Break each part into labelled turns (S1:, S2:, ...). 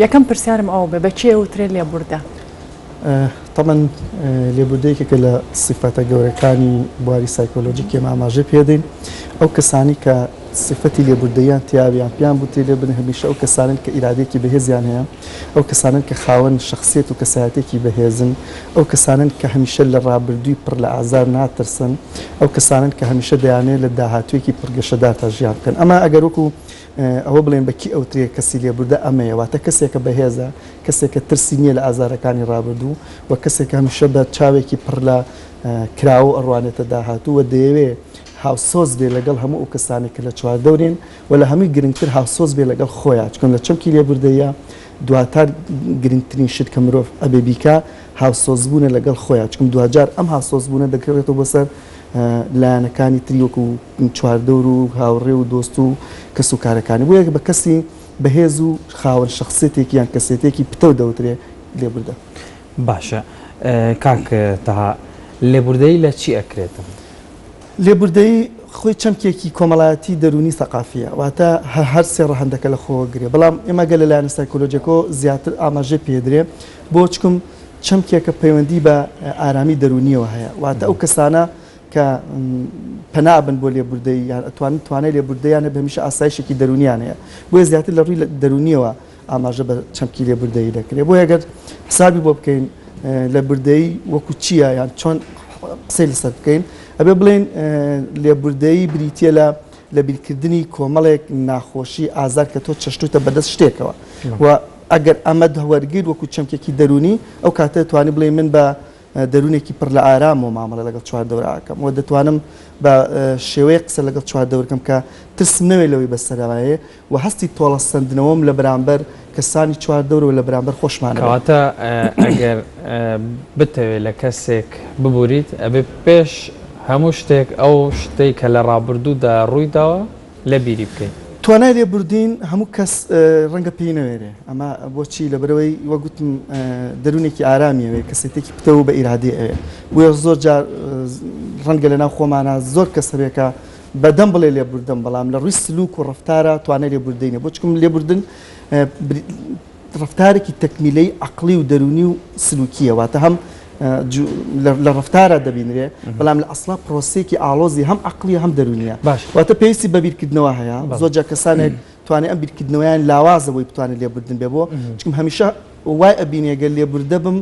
S1: یەکەم پرسیارم ئەوە بێ بە کێ وترێ لێبوردە؟
S2: تەبەن لێبوردەیەکێکە لە سیفەتە گەورەکانی بواری سایکۆلۆژی کێ ماماژە پێدەین ئەو کەسانی کە سفەتی لێبوردەیان تیاویان پێیان بوتێ لێ بن هەمیشە ئەو کەسانن کە ئیرادێکی بەهێزیان هەیە ئەو کەسانن کە خاوەن شخصێت و کەسایەتێکی بەهێزن ئەو کەسانن کە هەمیشە لە ڕابردووی پڕ لە ئازار ناترسن ئەو کەسانن کە هەمیشە دەیانێت لە داهاتوێکی پرگەشەدار تا ژیان بکەن ئەمە ئەگەر وەکو ئەوە بڵێن بە کی ئەوترێ کەسی لێبوردە ئەمەیە واتە کەسێکە بەهێزە کەسێکە ترسی نیە لە ئازارەکانی ڕابردوو و کەسێکە هەمیشە بە چاوێکی پڕ لە کراوە ئەڕوانێتە داهاتوو و دەیەوێ هاوسۆز بێ لەگەڵ هەموو ئەو کەسانەی کە لە چواردەورێن و لە هەمووی گرنگتر هاوسۆز بێ لەگەڵ خۆیا چکن لە چەمکی لێبوردەیە دواتار گرنگترین شت کە مرۆڤ ئەبێ بیکا هاوسۆزبوونە لەگەڵ خۆیا چکم دواجار ئەم هاوسۆزبوونە دەکرێتەوە بۆ سەر لایەنەکانی تری وەکو چواردەور و هاوڕێ و دۆست و کەس و کارەکانی بۆیە بە کەسی بەهێز و خاوەن شەخسێتێکی یان کەسێتێکی پتەو دەوترێ لێبوردە. باشە
S3: کاک تەها لێبوردەیی لە چی ئەکرێتن؟ لێبوردەیی
S2: خۆی چەمکێکی کۆمەڵایەتی دەروونی سەقافیە واتە هەر سێ ڕەهەندەکە لە خۆوە گرێ بەڵام ئێمە گەر لە لایەنە سایکۆلۆجیەکەوە زیاتر ئاماژەی پێدرێ بۆ چکم چەمکێکە پەیوەندی بە ئارامی دەروونییەوە هەیە، واتە ئەو کەسانە کە پەنا ئەبەن بۆ لێبوردەیی یان ئەتوانن توانای لێبوردەییان هەبێت هەمیشە ئاسایشێکی دەروونییان هەیە، بۆیە زیاتر لە ڕووی دەروونییەوە ئاماژە بە چەمکی لێبوردەیی دەکرێت، بۆیە گەر حسابی بۆ بکەین لێبوردەیی وەکو چییە یان چۆن قسەی لەسەر بکەین ئەبێ بڵێین لێبوردەیی بریتییە لە لەبیرکردنی کۆمەڵێک ناخۆشی، ئازار کە تۆ چەشتووتە بەدەست شتێکەوە و ئەگەر ئەمە وەرگرت وەکو چەمکێکی دەروونی، ئەو کاتە دەتوانی بڵێی من بە دەروونێکی پڕ لە ئارامەوە مامەڵە لەگەڵ چواردەورە ئەکەم و دەتوانم بە شێوەیەک قسە لەگەڵ چواردەور کەم کە ترسم نەوێت لەوەی بەسەرایێ و هەستی تۆڵەسەندنەوەم لە بەرامبەر کەسانی چواردەور و لە بەرامبەر خۆشمان هەبێت. کەواتە
S3: ئەگەر بتەوێت لە کەسێک ببوریت ئەبێت پێش هەموو شتێک ئەو شتەی کە لە ڕابردوودا ڕووی داوە، لە بیری بکەین. توانای لێبوردین
S2: هەموو کەس ڕەنگە پێی نەوێرێ ئەمە بۆچی لەبەرئەوەی وەک گوتم دەروونێکی ئارامی ئەوێ کەسێتێکی پتەو و بە ئیرادی ئەوێ بۆیە زۆر جار ڕەنگە لە ناو خۆمانە زۆر کەس هەبێ کە بەدەم بڵێ لێبوردم بەڵام لە ڕووی سلوک و ڕەفتارە توانای لێبوردەی نیە بۆ چکم لێبوردن ڕەفتارێکی تەکمیلەی عەقڵی و دەروونی و سلووکییە، واتە هەم لە ڕەفتارا دەبینرێ، بەڵام لە ئەسڵا پرۆسەیەکی ئاڵۆزی هەم عەقڵییە هەم دەروونییە. باش. واتە پێویستی بە بیرکردنەوە هەیە. بەڵێ. زۆر جار کەسانێک توانای ئەم بیرکردنەوەیان لاوازە بۆی بتوانێ لێبوردن بێ بۆ، چونکم هەمیشە وای ئەبینێ گەر لێبوردە بم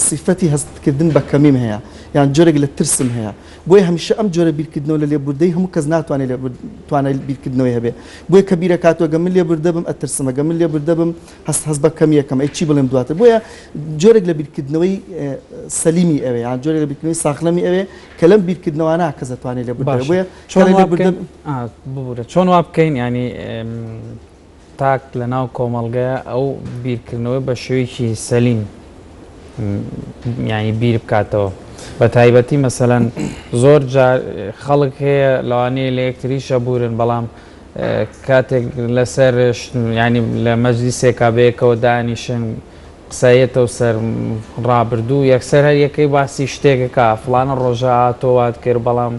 S2: سیفەتی هەستکردن بە کەمیم هەیە یان جۆرێک لە ترسم هەیە بۆیە هەمیشە ئەم جۆرە بیرکردنەوە لە لێبوردەی هەموو کەس ناتوانێت لێ توانای بیرکردنەوەی هەبێ بۆیە کە بیرەکاتەوە گە من لێبوردەبم ئەترسمە گە من لێبوردەبم هەست هەست بە کەمیەکەم ئەی چی بڵێم دواتر بۆیە جۆرێک لە بیرکردنەوەی سەلیمی ئەوێ یان جۆرێک لە بیرکردنەوەی ساخلەمی ئەوێ کە لەم بیرکردنەوەنا کەس دەتوانێت لێ بۆیە چۆن ببورە
S3: چۆن وا بکەین ینی تاک لە ناو کۆمەڵگەیە ئەو بیرکردنەوەی بە شێوەیەکی سەلیم یانی بیر بکاتەوە بە تایبەتی مەسەلەن زۆر جار خەڵک هەیە لەوانەیە لە یەکتری شەبورن بەڵام کاتێک لەسەر ینی لە مەجلیسێکا بەیەکەوە دانیشن قسەیەتەو سەر ڕابردوو یەکسەر هەر یەکەی باسی شتێکە کا فڵانە ڕۆژە ئا تۆ وات کرد بەڵام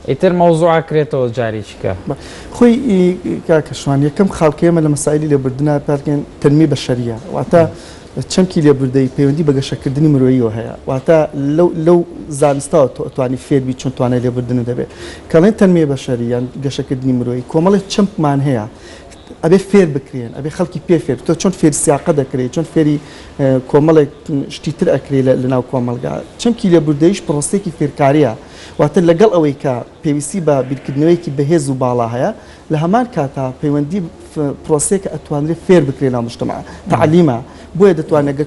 S3: ئیتر مەوزوع ئەکرێتەوە جاریکیکە. بە خۆی ئی
S2: کاک ئەشوان یەکەم خاڵکە ئێمە لە مەسائیلی لێبوردنا پێات دەکەین تەنمی بەشەریە واتە چەمکی لێبوردەیی پەیوەندی بە گەشەکردنی مرۆییەوە هەیە واتە لەو لەو زانستەوە تۆ ئەتوانی فێر بی چۆن توانای لێبوردنت هەبێ کە ئەڵێن تەنمی بەشەری یان گەشەکردنی مرۆیی کۆمەڵێ چەمکمان هەیە ئەبێ فێر بکرێن ئەبێ خەڵکی پێ فێر تۆ چۆن فێری سیاقە دەکرێ چۆن فێری کۆمەڵێک شتی تر ئەکرێ لەناو کۆمەلگا چەمکی لێبوردەیش پرۆسێکی فێرکاریە واتە لەگەڵ ئەوەی کە پێویستی بە بیرکردنەوەیەکی بەهێز و باڵا هەیە لە هەمان کاتا پەیوەندی پرۆسێکە ئەتوانرێ فێر بکرێن ناو مشتمە تعلیمە بۆیە دەتوانێت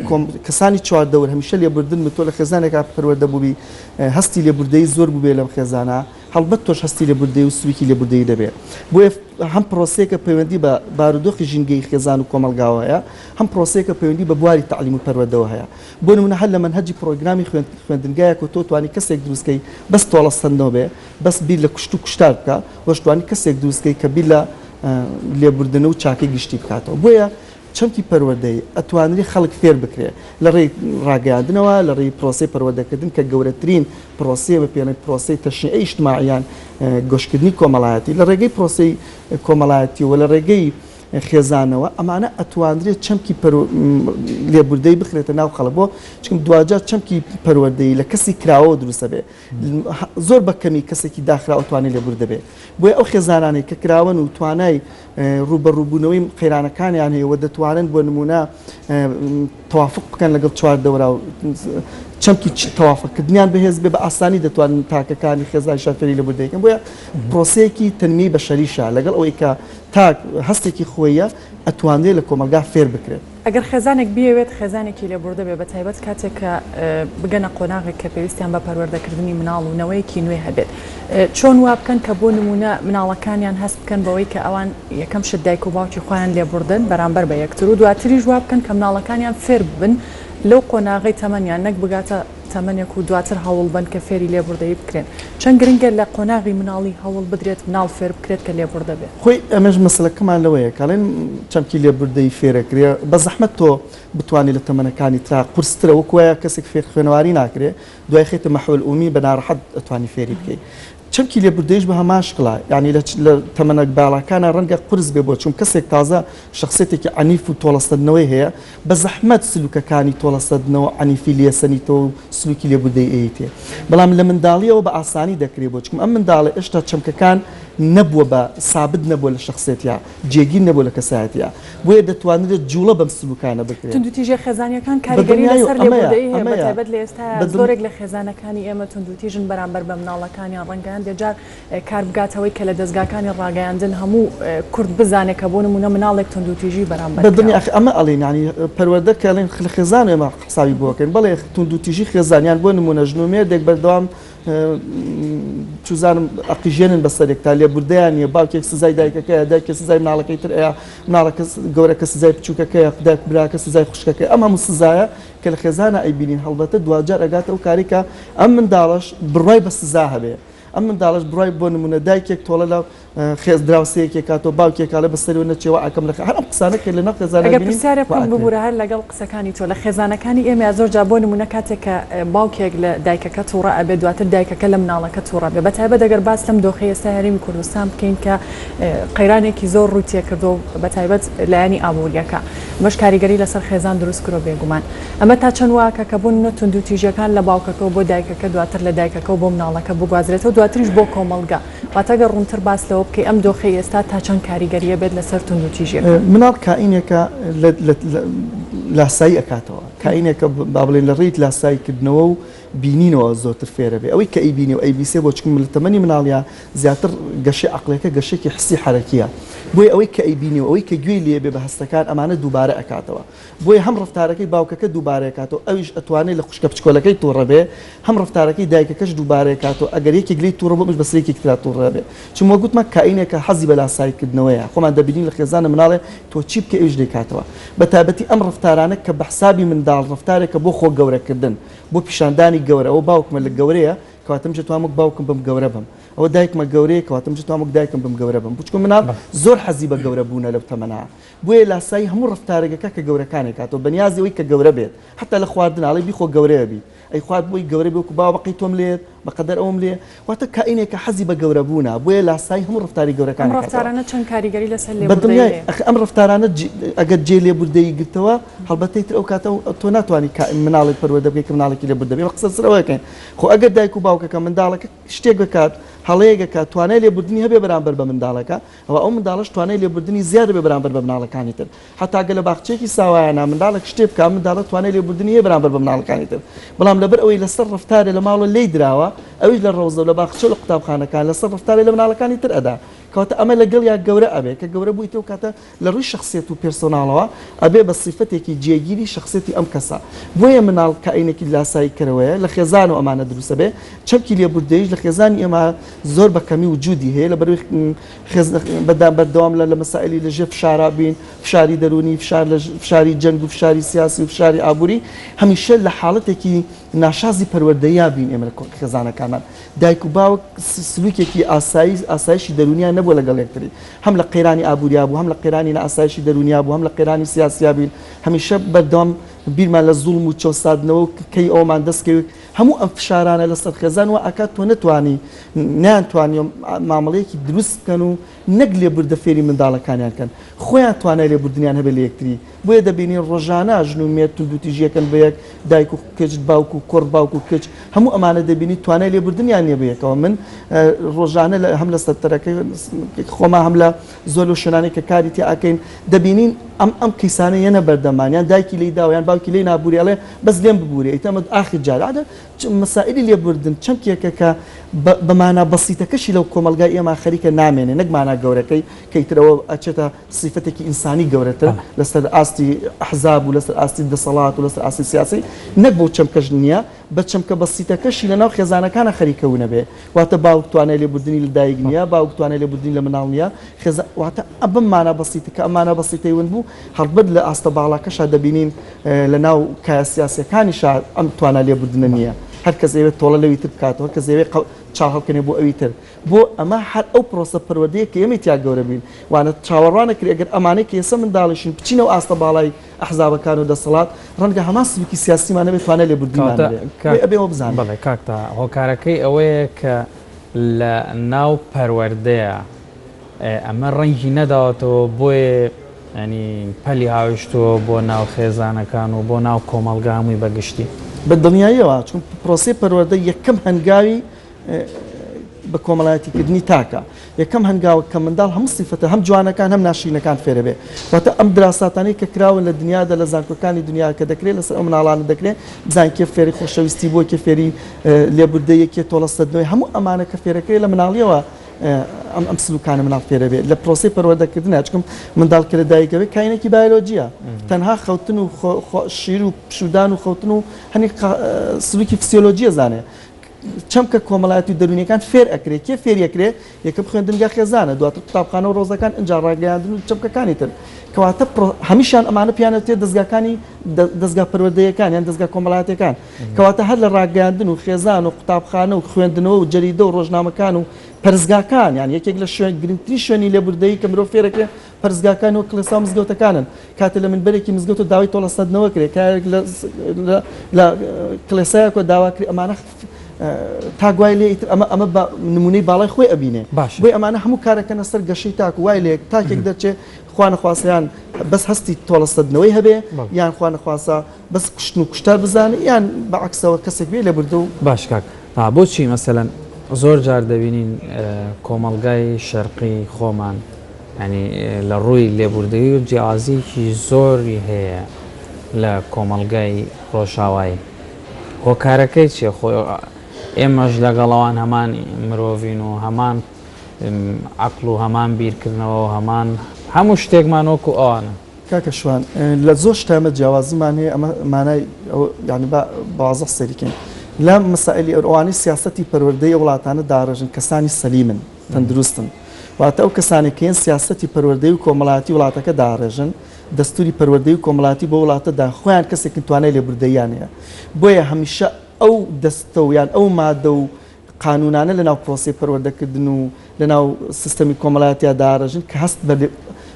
S2: کەسانی چواردەور هەمیشە لێبوردن بتۆ لە خێزانێکا پەروەردە بووبی هەستی لێبوردەی زۆر بووبێ لەم خێزانە هەڵبەت تۆش هەستی لێبوردەیی و سووکی لێبوردەیی دەبێ. بۆیە هەم پرۆسەیەکە پەیوەندی بە بارودۆخی ژینگەیی خێزان و کۆمەڵگاوە هەیە، هەم پرۆسەیەکە پەیوەندی بە بواری تەعلیم و پەروەردەوە هەیە. بۆ نموونە هەر لە مەنهەجی پرۆگرامی خوێندنگایەک و تۆ توانی کەسێک دروست کەی بەس تۆڵە سەندنەوە بێ، بەس بیر لە کوشت و کوشتار بکا، وەش توانی کەسێک دروست کەی کە بیر لە لێبوردنە و چاکەی گشتی بکاتەوە. بۆیە چەمکی پەروەردەیی ئەتوانرێ خەڵک فێر بکرێ لە ڕێی ڕاگەیاندنەوە، لە ڕێی پرۆسەی پەروەردەکردن کە گەورەترین پرۆسەیە بە پێنەی پرۆسەی تەشنیعی ئیشتماعی یان گۆشکردنی کۆمەڵایەتی لە ڕێگەی پرۆسەی کۆمەڵایەتی و لە ڕێگەی خێزانەوە ئەمانە ئەتوانرێ چەمکی لێبوردەی بخرێتە ناو خەڵک بۆ چونکە دواجار چەمکی پەروەردەیی لە کەسی کراوەوە دروستە بێ زۆر بە کەمی کەسێکی داخراوە توانێت لێبوردە بێ بۆیە ئەو خێزانانەی کە کراوەن و توانای ڕووبەڕووبوونەوەی قەیرانەکانیان هەیە و دەتوانن بۆ نموونە تەوافق بکەن لەگەڵ چواردەورا و چەمکی تەوافقکردنیان بەهێز بێ بە ئاسانی دەتوانن تاکەکانی خێزانی شار فێری لەبوردە یەکەن بۆیە پرۆسەیەکی تەنمیەی بەشەریشە لەگەڵ ئەوەی کە تاک هەستێکی خۆییە ئەتوانرێ لە کۆمەڵگا فێر بکرێت. ئەگەر خێزانێک
S1: بیەوێت خێزانێکی لێبوردە بێ بە تایبەت کاتێک کە بگەنە قۆناغێک کە پێویستیان بە پەروەردەکردنی مناڵ و نەوەیەکی نوێ هەبێت چۆن وا بکەن کە بۆ نمونە مناڵەکانیان هەست بکەن بەوەی کە ئەوان یەکەم شت دایک و باوکی خۆیان لێبوردن بەرامبەر بە یەکتر و دواتریش وا بکەن کە مناڵەکانیان فێر ببن لەو قۆناغی تەمەنیان نەک بگاتە تەمەنێک و دواتر هەوڵبەن کە فێری لێبوردەیی بکرێن. چەند گرنگە لە قۆناغی مناڵی هەوڵ بدرێت مناڵ فێربکرێت کە لێبوردە بێت. خۆی ئەمەش مەسەلەکەمان
S2: لەوەیە کە ئەڵێن چەمکی لێبوردەیی فێرەکرێ، بەزەحمەت تۆ بتوانی لە تەمەنەکانی ترا قورسترە وەک وایە کەسێک فێر خوێنەواری ناکرێ دوای خەیتە مەحوەل ئومی بە ناڕەحەت ئەتوانی فێری بکەی چەمکی لێبوردەیش بە هەمان شکڵە، یانی لە لە تەمەنە باڵاکانا ڕەنگە قورس بێ بۆ چون کەسێک تازە شەخسیەتێکی عەنیف و تۆڵەسەندنەوەی هەیە، بە زەحمەت سلوکەکانی تۆڵەسەندنەوە و عەنیفی لێسەنیتەوە و سلوکی لێبوردەیی ئەیتێ. بەڵام لە منداڵیەوە بە ئاسانی دەکرێ بۆ چون ئەم منداڵە ئێشتا چەمکەکان نەبووە بە سابت نەبووە لە شەخسیەتیا. جێگیر نەبووە لە کەسایەتیا، بۆیە دەتوانرێت جووڵە بەم سلوکانە بکرێت. توندوتیژە خێزانیەکان
S1: کاریگەری لەسەر لێبووردەیی هەیە بە تایبەت لە ئێستا زۆرێک لە خێزانەکانی ئێمە توندوتیژن بەرامبەر بە مناڵەکانیان ڕەنگە هەندێ جار کار بگاتە ئەوەی کە لە دەزگاکانی ڕاگەیاندن هەموو کورد بزانێت کە بۆ نموونە مناڵێک توندوتیژی بەرامبەر بە دنیا ئەخ ئەمە ئەڵێن
S2: یانی پەروەردە کە ئەڵێن خێزان ئێمە حسابی بۆ ئەکەین بەڵێ توندوتیژی خێزان یان بۆ نموونە ژن و مێردێک بەردەوام چوزانم ئەقیژێنن بەسەرێکتا لێبوردەیان نیە باوکێک سزای دایکەکەیە دایکێ سزای مناڵەکەی تر ئەیا مناڵەکە گەورەکە سزای بچوکەکەیە دایک براکە سزای خوشکەکەی ئەم هەموو سزایە کە لە خێزانا ئەیبینین هەڵبەتە دواجار ئەگاتە ئەو کارەی کە ئەم منداڵەش بڕوای بە سزا هەبێ ئەم منداڵەش بڕوای بۆ نمونە دایکێک تۆڵە لە خێز دراوسێکێ کاتۆ باوکێ کاڵێ بە سەرو نەچێ وە ئەکەم لە خێ هەر ئەم قسانە کە لەناو خێزانە ئەگەر پرسیارێ بکەم ببورە
S1: هەر لەگەڵ قسەکانی تۆ لە خێزانەکانی ئێمەیا زۆر جا بۆ نمونە کاتێک کە باوکێک لە دایکەکە توڕە ئەبێ دواتر دایکەکە لە مناڵەکە توڕە بێ بەتایبەت ئەگەر باس لەم دۆخی ئێستا هەرێمی کوردستان بکەین کە قەیرانێکی زۆر ڕووی تێکردو بەتایبەت لایەنی ئابووریەکە مەش کاریگەری لەسەر خێزان دروست کرۆ بێگومان ئەمە تا چەند واکە کە بوون نە تونند و تیژەکان لە باوکەکەەوە بۆ دایکەکە دواتر لە دایکەکە بۆ مناڵەکە بگوازرێتەوە دواتریش بۆ کۆمەلگا واتە گەر ڕوونتر باس لەوە بکەی ئەم دۆخەی ئێستا تا چەند کاریگەریی بێت لەسەر توندوتیژیەکان؟ مناڵ کائینێکە
S2: لاسایی ئەکاتەوە، کائینێکە با بڵێن لە ڕێی لاسایی کردنەوە و بینینەوە زۆرتر فێر ئەبێ، ئەوەی کە ئەیبینێ و ئەیبیسێ بۆ چونکە لە تەمەنی مناڵییە زیاتر گەشەی عەقڵیەکە گەشەیەکی حسی حەرەکییە بۆیە ئەوەی کە ئەیبینێ و ئەوەی کە گوێی لێ بێ بە هەستەکان ئەمانە دووبارە ئەکاتەوە. بۆیە هەم ڕەفتارەکەی باوکەکە دووبارەیەکاتەوە ئەویش ئەتوانێ لە خوشکە بچکۆلەکەی توڕەبێ هەم ڕەفتارەکەی دایکەکەش دووبارەیەکاتەوە ئەگەر یەکێک لێی توڕەبوو ئەویش بەسەر یەکێکی ترا توڕەبێ چون وەک گوتمان کائینێکە حەزی بە لاسایی کردنەوەیە خۆمان دەبینین لە خێزانە مناڵێ تۆ چی بکەی ئەویش دەیکاتەوە بە تایبەتی ئەم ڕەفتارانە کە بە حسابی منداڵ ڕەفتارێکە بۆ خۆ گەورەکردن بۆ پیشاندانی گەورە ئەوە باوکمە لە گەورەیە کەواتە منیش ئەتوانم وەک باوکم بم گەورە بم ئەوە دایکمە گەورەیە کەواتە منیش ئەتوانم وەک دایکم بم گەورە بم بچکۆ مناڵ زۆر حەزی بە گەورە بوونە لەو تەمەنە بۆیە لاسایی هەموو ڕەفتارێکەکە کە گەورەکانێک هاتووە بەنیازی ئەوەی کە گەورە بێت حەتا لە خواردنا ئەڵێ بیخۆ گەورە ئەبیت ئەی خوارد بۆی گەورە بێ وەکو باوە بەقەی تۆم لێت بەقەدەر ئەوم لێ واتە کائینێکە حەزی بە گەورە بوونە بۆیە لاسایی هەموو ڕەفتاری گەورەکانێک هاتووە. ئەم ڕەفتارانە چەند کاریگەری
S1: لەسەر لێبوردەیی هەیە؟ بەدڵنیای ئەخ ئەم ڕەفتارانە
S2: جی ئەگەر جێ لێبوردەیی گرتەوە هەڵبەتە ئیتر ئەو کاتە تۆ ناتوانی کا مناڵێک پەروەدە بکەی کە مناڵێکی لێبوردە بێ قسە سەر ئەوە ئەکەین خۆ ئەگەر دایک و باوکەکە منداڵەکە شتێک بکات هەڵەیەک ئەکات توانای لێبوردنی هەبێ بەرامبەر بە منداڵەکە ئەوا ئەو منداڵەش توانای لێبوردنی زیاد دەبێت بەرامبەر بە مناڵەکانی تر. هەتا گەر لە باخچەیەکی ساوایانە منداڵێک شتێ بکا، ئەم منداڵە توانای لێبوردنی هەیە بەرامبەر بە مناڵەکانی تر. بەڵام لەبەر ئەوەی لەسەر ڕەفتارێ لە ماڵە لێی دراوە، ئەویش لە ڕەوزە و لە باخچە و لە قوتابخانەکان لەسەر ڕەفتارێ لە مناڵەکانی تر ئەدا. کەواتە ئەمە لە گەڵیا گەورە ئەبێ. کە گەورە بوویتەوە کاتە لە ڕووی شەخسیەت و پێرسۆناڵەوە ئەبێ بە سیفەتێکی جێگیری شەخسیەتی ئەم کەسە. بۆیە منداڵ کائینێکی لاسایی کەرەوەیە، لە خێزانەوە ئەمانە دروست ئەبێ. چەمکی لێبوردەییش لە خێزانی ئێمە. زۆر بە کەمی وجودی هەیە لەبەروی خێزنە بەدام بەردەوام لە لە مەسائلی لە ژێر فشارا بین فشاری دەرونی فشار لە فشاری جەنگ و فشاری سیاسی و فشاری ئابووری هەمیشە لە حاڵەتێکی ناشازی پەروەردەیا بین ئێمە لە خێزانەکانمان دایک و باوک سلوکێکی ئاسایی ئاسایشی دەرونیان نەبووە لەگەڵ یەکتری هەم لە قەیرانی ئابووریا بوو هەم لە قەیرانی لە ئاسایشی دەرونیا بوو هەم لە قەیرانی سیاسیا بین هەمیشە بەردەوام بیرمان لە زوڵم و چۆسادنەوە کەی ئەومان دەستکەوت هەموو ئەم فشارانە لەسەر خێزان وا ئەکات تۆ نەتوانی نەیان توانیوە مامەڵەیەکی دروست بکەن و نەک لێبوردە فێری منداڵەکانیان کەن خۆیان توانای لێبوردنیان هەبێت لە یەکتری بۆیە دەبینین ڕۆژانە ژن و مێرد توندوتیژی ئەکەن بە یەک دایک و کچ باوک و کوڕ باوک و کچ هەموو ئەمانە دەبینی توانای لێبوردنیان نیە بە یەکەوە من ڕۆژانە هەم لە سەنتەرەکەی خۆما هەم لە زۆر لەو شوێنانەی کە کاری تیا ئەکەین دەبینین ئەم ئەم قیسانە یەنە بەردەمان یان دایکی لی داوە یان باوکی لی نابوری ئەڵێ بەس لێم ببورێ ئیتر ئەمە ئاخر جار عادە چ- مەسائلی لێبوردن چەمکێکە کە بە بە مانا بەسیتەکەشی لەو کۆمەڵگای ئێمە خەریکە نامێنێ نەک مانا گەورەکەی کە ئیتر ئەوە ئەچێتە سیفەتێکی ئینسانی گەورەتر بەڵێ. لەسەر ئاستی ئەحزاب و لەسەر ئاستی دەسەڵات و لەسەر ئاستی سیاسی نەک بەو چەمکەش نییە بە چەمکە بەسیتەکەشی لە ناو خێزانەکانا خەریکە ونەبێ واتە باوک توانای لێبوردنی لە دایک نیە باوک توانای لێبوردنی لە مناڵ نیە خێزا واتە ئە بەم مانا بەسیتە کە ئەم مانا بەسیتەی ون بوو هەڵبەت لە ئاستە باڵاکەشا دەبینین لە ناو کایە سیاسیەکانیشا ئەم توانا لێبوردنە نیە هەر کەس ئەیەوێ تۆڵە لەوی تر بکاتەوە هەر کەس ئەیەوێ قە چاڵ هەڵکەنێ بۆ ئەوی تر بۆ ئەمە هەر ئەو پرۆسە پەروەردەیە کە ئێمەی تیا گەورە بووین وانە چاوەڕوان نەکرێ گەر ئەمانەی کە ئێسە منداڵیشین بچینەوە ئاستە باڵای ئەحزابەکان و دەسەڵات ڕەنگە هەمان سلوکی سیاسیمان نەبێت توانای لێبوردنیمان کەواتە نەبێت کاک بۆیە ئەبێ ئەوە بزانین. بەڵێ کاک تەها
S3: هۆکارەکەی ئەوەیە کە لە ناو پەروەردەیە ئێ ئەمە ڕەنگی نەداوەتەوە بۆیە یانی پەلی هاویشتووە بۆ ناو خێزانەکان و بۆ ناو کۆمەڵگا هەمووی بە گشتی. بە دڵنیاییەوە
S2: چون پرۆسەی پەروەردە یەکەم هەنگاوی بە کۆمەڵایەتی کردنی تاکە یەکەم هەنگاوە کە منداڵ هەموو سیفەتە هەم جوانەکان هەم ناشرینەکان فێرەبێ واتە ئەم دراساتانەی کە کراوە لە دنیادا لە زانکۆکانی دنیا کە دەکرێت لەسەر ئەو مناڵانە دەکرێت بزان کێ فێری خۆشەویستی بۆ کێ فێری لێبوردە یەکێ تۆڵە سەدنەوەی هەموو ئەمانە کە فێرەکرێت لە مناڵیەوە ئەم ئەم سلوکانە مناڵ فێرەبێت لە پرۆسی پەروەردەکردن چکم منداڵ کە لە دایکەوەی کاینێکی بایلۆجیە تەنها خەوتن و شیر و پشودان و خەوتن و هەنی سلوکی فسیۆلۆجیە زانێ چەمکە کۆمەڵایەتی و دەروونیەکان فێر ئەکرێ کێ فێری ئەکرێ یەکەم خوێندنگا خێزانە دواتر قوتابخانە و ڕۆزەکان ئینجا ڕاگەیاندن و چەمکەکانی تر کەواتە هەمیشان ئەمانە پیانەتێ دەستگاکانی دەستگا پەروەردەیەکان یان دەستگا کۆمەڵاتەکان کەواتە هەر لە ڕاگەیاندن و خێزان و قوتابخانە و خوێندنەوە و جەریدە و ڕۆژنامەکان و پەرزگاکان یان یەکێک لە شوێن گرنگتری شوێنی لێبوردەیی کە مرۆ فێرەکرێ پەرستگاکان و کڵێسا و مزگەوتەکانن کاتێ لە منبەرێکی مزگەوت و داوای تۆڵە سەدنەوە کرێ کارێک لە کڵێسایەکۆ داواکری ئەمانە تاگوای لێ ئیتر ئەمە ئەمە نمونەی باڵای خۆی ئەبینێ باش بۆی ئەمانە هەموو کارەکەنە سەر گەشەی تاک وای لێک تاکێک دەچێ خوانەخواسیان بەس هەستی تۆڵە سەدنەوەی هەبێ یان خوانەخواسە بەس کوشتن و کوشتار بزانێ یان بە عەکسەوە کەسێک بێ لە بردە و. باش کاک ئا
S3: بۆچی مەسەلەن زۆر جار دەبینین کۆمەڵگای شەرقی خۆمان یانی لە ڕووی لێبوردەیی و جیاوازیەکی زۆری هەیە لە کۆمەڵگای ڕۆژاوایی هۆکارەکەی چیە خۆ ئێمەش لەگەڵ ئەوان هەمان مرۆڤین و هەمان عەقڵ و هەمان بیرکردنەوە و هەمان هەموو شتێکمان وەکو ئەوانە کاکە شوان
S2: لە زۆر شتە ئێمە جیاوازیمان هەیە ئەمە مانای ئەوە یانی با بەوازەح سەیری کەین لە مەسائلی ئەوانەی سیاسەتی پەروەردەی ئەو وڵاتانە داڕێژن کەسانی سەلیمن تەندروستن واتە ئەو کەسانێک کە هێن سیاسەتی پەروەردەی و کۆمەڵایەتی وڵاتەکە داڕێژن دەستوری پەروەردەی و کۆمەڵایەتی بۆ وڵاتەدا خۆیان کەسێکن توانای لێبوردەییان هەیە بۆیە هەمیشە ئەو دەستە و یان ئەو مادە و قانوونانە لەناو پرۆسەی پەروەردەکردن و لەناو سیستەمی کۆمەڵایەتیا داڕێژن کە هەست بە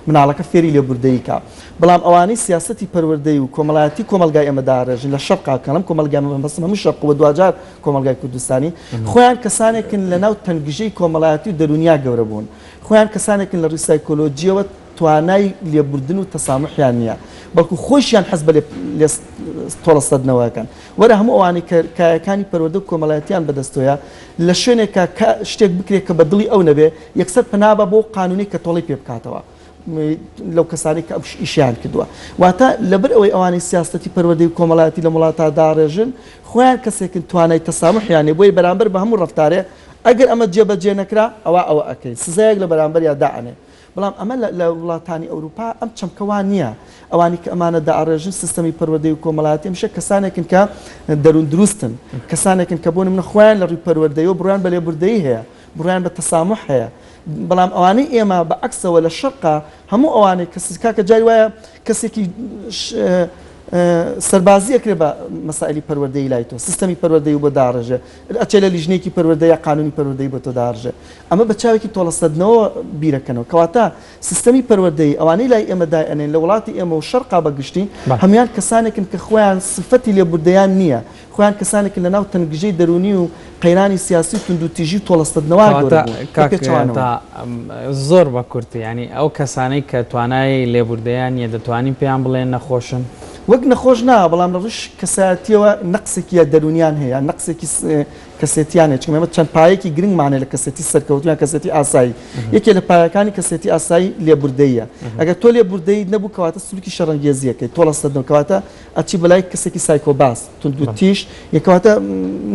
S2: مناڵەکە فێری لێبوردەیی کا. بەڵام ئەوانەی سیاسەتی پەروەردەی و کۆمەڵایەتی کۆمەڵگای ئێمە داڕێژن لە شەرقا، کە ئەڵێم کۆمەڵگای ئێمە مەبەستم هەموو شەرق و بە دواجار کۆمەڵگای کوردستانی، خۆیان کەسانێکن لەناو تەنگژەی کۆمەڵایەتی و دەروونیا گەورە بوون. خۆیان کەسانێکن لە ڕووی سایکۆلۆجییەوە، توانای لێبوردن و تەساموحیان نیە بەڵکو خۆیشیان حەز بە تۆڵە سەدنەوەکەن وەرە هەموو ئەوانەی کە کایەکانی پەروەردە و کۆمەڵایەتیان بەدەستۆیە لە شوێنێکە کە شتێک بکرێت کە بە دڵی ئەو نەبێ یەکسەر پەنابە بۆ قانونی کە تۆڵەی پێ بکاتەوە لەو کەسانی کە ئەوش ئیشیان کردووە واتە لەبەر ئەوەی ئەوانەی سیاستی پەروەردەی و کۆمەڵایەتی لە وڵاتا داڕێژن خۆیان کەسێکن توانای تەسامحیانێ بۆی بەرامبەر بە هەموو ڕفتارێ ئەگەر ئەمە جێبەجێ نەکرا ئەوە ئەوە ئەکەین سزایەک لە بەرامبەر یا دائەنێ بەڵام ئەمە لە وڵاتانی ئەوروپا ئەم چەمکە وا نییە. ئەوانی کە ئەمانە دائەڕێژن سیستەمی پەروەردەی و کۆمەڵایەتی هەمیشە کەسانێکن کە دەروون دروستن. کەسانێکن کە بۆ نمونە خۆیان لە ڕووی پەروەردەیەوە بڕوایان بە لێبوردەیی هەیە، بڕوایان بە تەساموح هەیە. بەڵام ئەوانەی ئێمە بە عەکسەوە لە شەرقا هەموو ئەوانەی کە کاکە جاری وایە کەسێکی سەربازی ئەکرێ بە مەسائیلی پەروەردەیی لای تۆ سیستەمی پەروەردەی بۆ داڕێژێ ئەچێ لە لیژنەیەکی پەروەردە یا قانونی پەروەردەی بۆ تۆ داڕژێ ئەمە بە چاوێکی تۆڵەسەندنەوە بیرەکەنەوە کەواتە سیستەمی پەروەردەیی ئەوانەی لای ئێمە دایئەنێن لە وڵاتی ئێمە و شەرقا بە گشتی هەموان کەسانێکن کە خۆیان سفەتی لێبوردەیان نییە خۆیان کەسانێکن لە ناو تەنگژەی دەروونی و قەیرانی سیاسی و توندوتیژی و تۆڵەسەندنەوە گەورە بوون کە پێچەوانەوە
S3: زۆر بە کورتی یانی ئەو کەسانەی کە توانای لێبوردەیان نییە دەتوانین پێیان بڵێن نەخۆشن؟ وەک نەخۆش
S2: نا، بەڵام لە ڕووی کەسایەتییەوە نەقسێکی یا دەروونییان هەیە، نەقسێکی کەسێتییان هەیە، چونکە ئێمە چەند پایەیەکی گرنگمان هەیە لە کەسێتی سەرکەوتوو یان کەسێتی ئاسایی. یەکێ لە پایەکانی کەسێتی ئاسایی لێبوردەییە. ئەگەر تۆ لێبوردەییت نەبوو کەواتە سلووکی شەڕەنگێزی ئەکەیت، تۆڵەسەند نەبوو کەواتە ئەچی بە لای کەسێکی سایکۆباس، توندوتیژ، یە کەواتە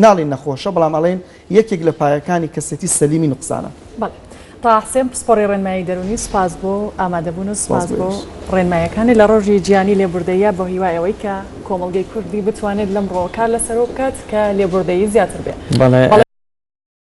S2: ناڵێین نەخۆشە، بەڵام ئەڵێین یەکێک لە پایەکانی کەسێتی سەلیمی نوقسانە. بەڵێ. تەها
S1: حسێن پسپۆڕی ڕێنمایی دەروونی، سوپاس بۆ ئامادەبوون و سوپاس بۆ ڕێنمایەکانت لە ڕۆژی جیهانی لێبوردەییا بە هیوای ئەوەی کە کۆمەڵگەی کوردی بتوانێت لەمڕۆوە کار لەسەرەوە بکات کە لێبوردەیی زیاتر بێ. بەڵێ.